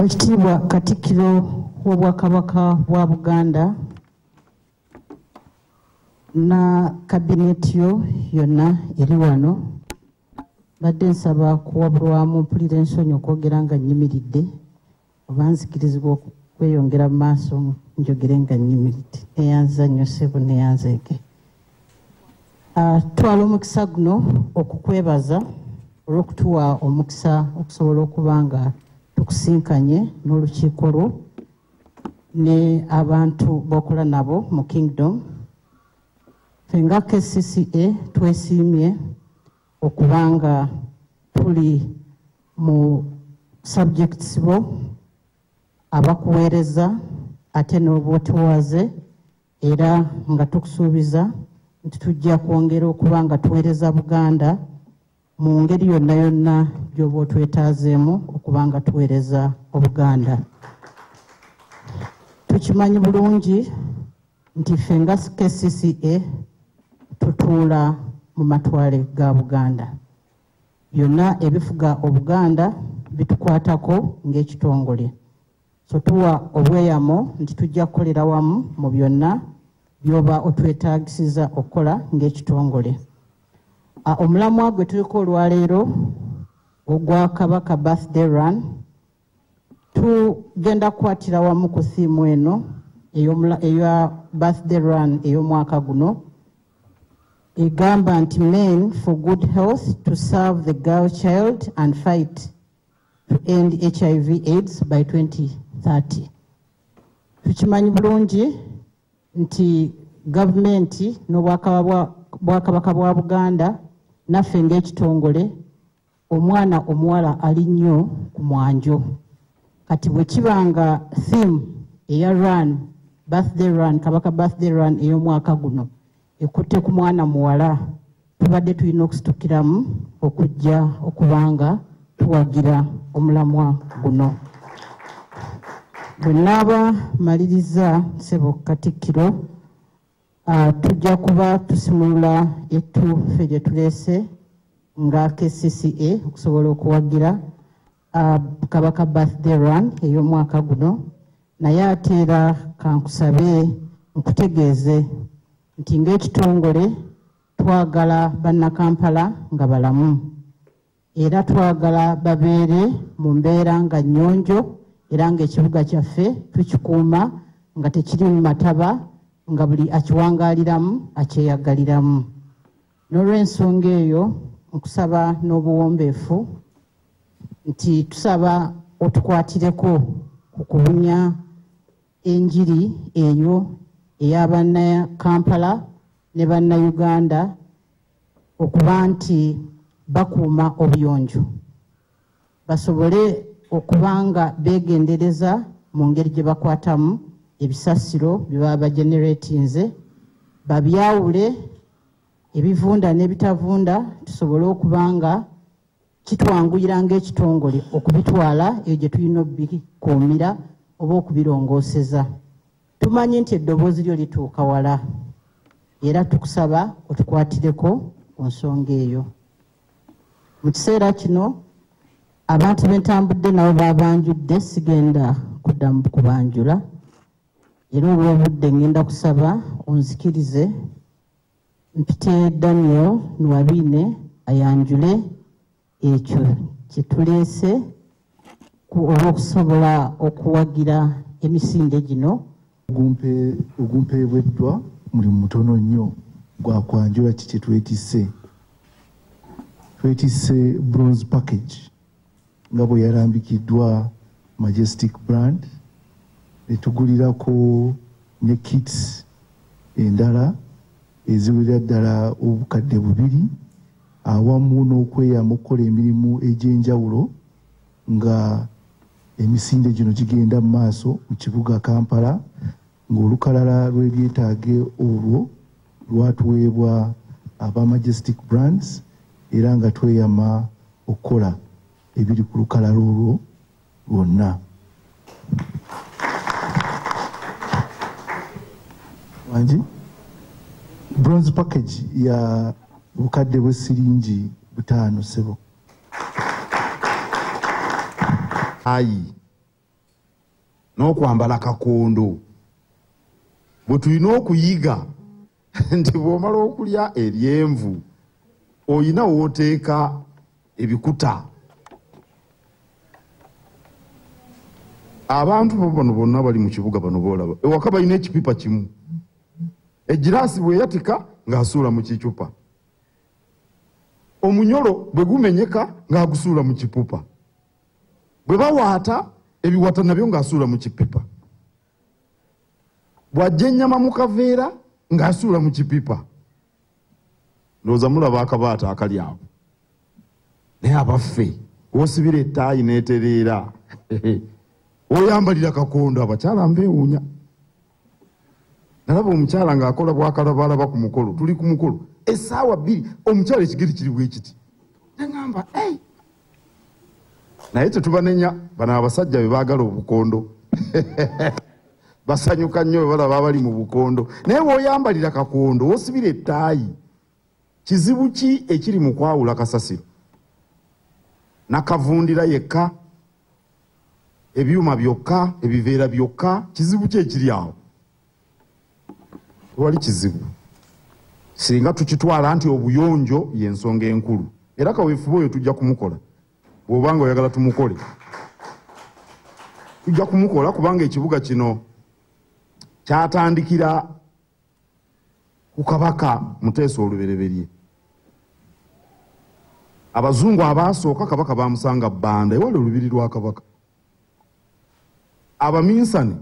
Ekitiibwa Katikkiro w'Obwakabaka bwa Buganda na kabineeti yo yonna eri wano mbadde nsaba kuwabulwamu mpulira ensonyi okwogera nga nnyimiridde oba nzikirizibwa okweyongera mu maaso njogere nga nyimiridde neyanziza nnyo ssebo neyanzeeke ah, twala omukisa guno okukwebaza olw'okutuwa omukisa okusobola okuba nga tukusinkanye n'olukiiko lwo ne abantu bokola nabo mu kingdom ffe nga kcca twesiimye okuba nga tuli mu subjects bo abakuweereza ate n'obwotuwaze era nga tukusuubiza nti tujja kwongera okuba nga tuweereza buganda mu ngeri yonna yonna gy'oba otwetaazeemu okuba nga tuweereza obuganda tukimanyi bulungi nti ffe nga kcca tutuula mu matwale ga buganda byonna ebifuga obuganda bitukwatako ng'ekitongole so tuwa obweyamo nti tujja kukolera wamu mu byonna byoba otwetagisiza okukola ng'ekitongole omulamwa gwe tuliko olwaleero ogwa kabaka birthday run tugenda kukwatira wamu ku siimu eno eya birthday run ey'omwaka guno egamba nti men for good health to serve the girl child and fight to end hiv aids by 2030 tukimanyi bulungi nti gavumenti n'obwakabaka bwa buganda naffe ng'ekitongole omwana omuwala ali nnyo ku mwanjo kati bwe kiba nga theme eya run birthday run kabaka birthday run ey'omwaka guno ekutte ku mwana muwala tubadde tulina okusitukiramu okujja okuba nga tuwagira omulamwa guno bwe naaba maliriza sebo katikkiro Ah, tujja kuba tusimulula ettuufe gye tuleese nga kcca okusobola okuwagira ah, kabaka birthday run ey'omwaka guno naye ate era kankusabe nkutegeeze nti ng'ekitongole twagala bannakampala nga balamu era twagala babeere mu mbeera nga nnyonjo era ng'ekibuga kyaffe tukikuuma nga tekiri mu mataba nga buli akiwangaaliramu akyeyagaliramu n'olw'ensonga eyo nkusaba n'obuwombeefu nti tusaba otukwatireko ku kubunya enjiri eyo eya bannakampala ne bannayuganda okuba nti bakuuma obuyonjo basobole okuba nga beegendereza mu ngeri gye bakwatamu ebisasiro bye baba bageneratinze babyawule ebivunda n'ebitavunda tusobole okuba nga kitwanguyira ng'ekitongole okubitwala eyo gye tulina okubikuumira oba okubirongooseza tumanyi nti eddoboozi lyo lituuka wala era tukusaba otukwatireko ku nsonga eyo mu kiseera kino abantu bentambudde nabo babanjudde sigenda kuddamu kubanjula era olw'obudde ngenda kusaba onzikirize mpite daniel nuwabine ayanjule ekyo kyetuleese olwokusobola okuwagira emisinde gino ogumpeebweddwa mulimu mutono nnyo gwakwanjula ki kyetwetise twetise bronze package nga bwe yalambikiddwa majestic brand netugulirako ne kits endala eziwerera ddala obukadde bubiri awamu n'okweyamba okukola emirimu egy'enjawulo nga emisinde gino gigenda mu maaso mu kibuga kampala ng'olukalala lw'ebyetaage olwo lwatuweebwa aba majestic brands era nga tweyama okukola ebiri ku lukalala olwo lwonna wangi bronze package ya bukadde bw'essiringi butaano sebo ayi n'okwambala kakondo bwe tulina okuyiga nti bw'omala okulya ebyenvu olina wooteeka ebikuta abantu bano bonna bali mu kibuga bano boolaba ewaka balina ekipipa kimu egiraasi bweyatika ng'asuula mu kicupa omunyolo bwe gumenyeka ng'agusuula mu kipupa bwe bawaata ebiwata nabyo ng'asuula mu kipipa bw'ajja ennyama mu kaveera ng'asuula mu kipipa ndowooza mulaba akabaata akali awo naye abaffe wosibira ettaayi n'etereera oyambalira kakondo abakyala mbeewuunya nalaba omukyala ng'akola bwakalabalaba ku mukolo tuli ku mukolo esaawa bbiri omukyala ekigeri kiri bwekiti nagamba ei naye tetubanenya bano abasajja be baagala obukondo basanyuka nnyo bwe balaba abali mu bukondo naye woyambalira kakondo wosibira ettaayi Kizibu ki ekiri mu kwawula kasasiro nakavundira yekka ebyuma byokka ebiveera byokka kizibu ki ekiri awo tewali kizibu singa tukitwala nti obuyonjo yensonga enkulu era kaweefube oyo tujja kumukola bwoba nga oyagala tumukole tujja kumukola kubanga ekibuga kino kyatandikira ku kabaka muteesa olubereberye abazungu abaasooka kabaka bamusanga banda ewali olubiri lwa kabaka abaminsani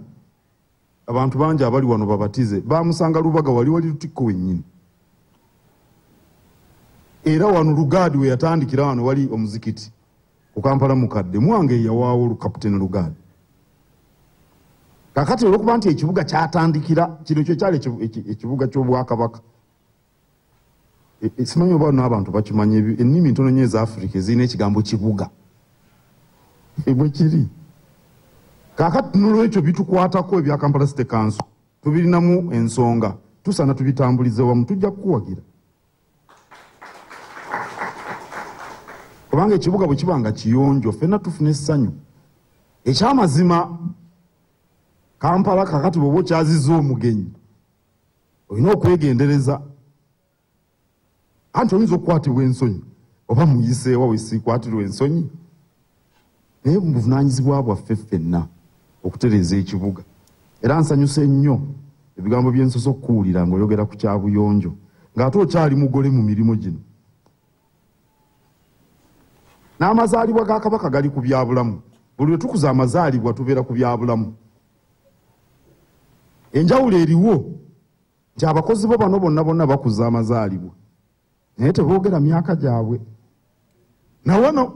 abantu bangi abali wano babatize bamusanga lubaga wali wali lutikko wennyini era wano lugaadi weyatandikira wano wali omuzikiti ku kampala mukadde mwange yawaawo lukaputeni lugaali kakati olwokuba nti ekibuga kyatandikira kino kyo kyali ekibuga ky'obwakabaka e, e, simanyi oba naabantu bakimanya ennimi ntono nyo eza afirika ezirina ekigambo kibuga ebwe kiri kakati nolwekyo bitukwatako ebya kampala site kanso tubirinamu ensonga tusaana tubitambulize wamu tujja kukuwagira kubanga ekibuga bwe kiba nga kiyonjo fenna tufuna essanyu ekyamazima kampala kakati bwoba okyaziza omugenyi olina okwegendereza anti oyinza okukwatibwa ensonyi oba muyiseewa wesiikwatirwa ensonyi naye mubuvunaanyizibwa bwaffe ffenna okutereeza ekibuga era nsanyuse nnyo ebigambo bye nsosa okukuwulira ng'oyogera ku kyabuyonjo ng'ate okyali mugole mu mirimu gino n'amazaalibwa ga kabaka gali ku byabulamu buli lwe tukuza amazaalibwa tubeera ku byabulamu enjawulo eriwo nti abakozi bo bano bonna bonna bakuza amazaalibwa naye tebogera myaka gyabwe nawano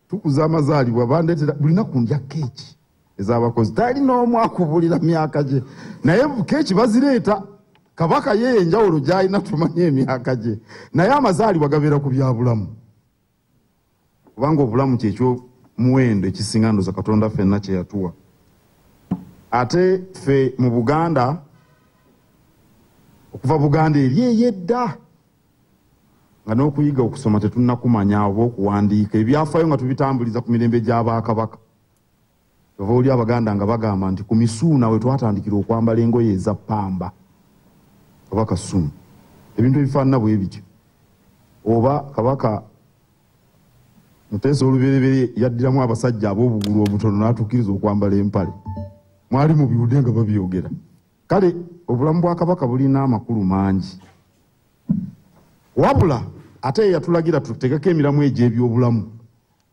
tukuza amazaalibwa bandetera buli naku ndya keeki ezabakozi tali n'omu akubulira myaka gye naye keeki bazireeta kabaka ye enjawulo gyalina tumanya emyaka gye naye amazaalibwa gabeera ku byabulamu kubanga obulamu kyekyo muwendo ekisinga ndoza katonda fenna kyeyatuwa ate fe mu buganda okuva buganda eri eyedda nga n'okuyiga okusoma tetunakumanya oba okuwandiika ebyafayo nga tubitambuliza ku mirembe gy'abakabaka ova oli abaganda nga bagamba nti ku misuuna we twatandikira okwambala engoye eza pamba oba kasumu ebintu ebifaanana bwe bityo oba kabaka muteesa olubereberye yaddiramu abasajja ab'obugulu obutono n'atukkiriza okwambala empale mwali mu biwude nga babyogera kale obulamu bwa kabaka bulina amakulu mangi wabula ate yeyatulagira tutegeko emiramu egy'ebyobulamu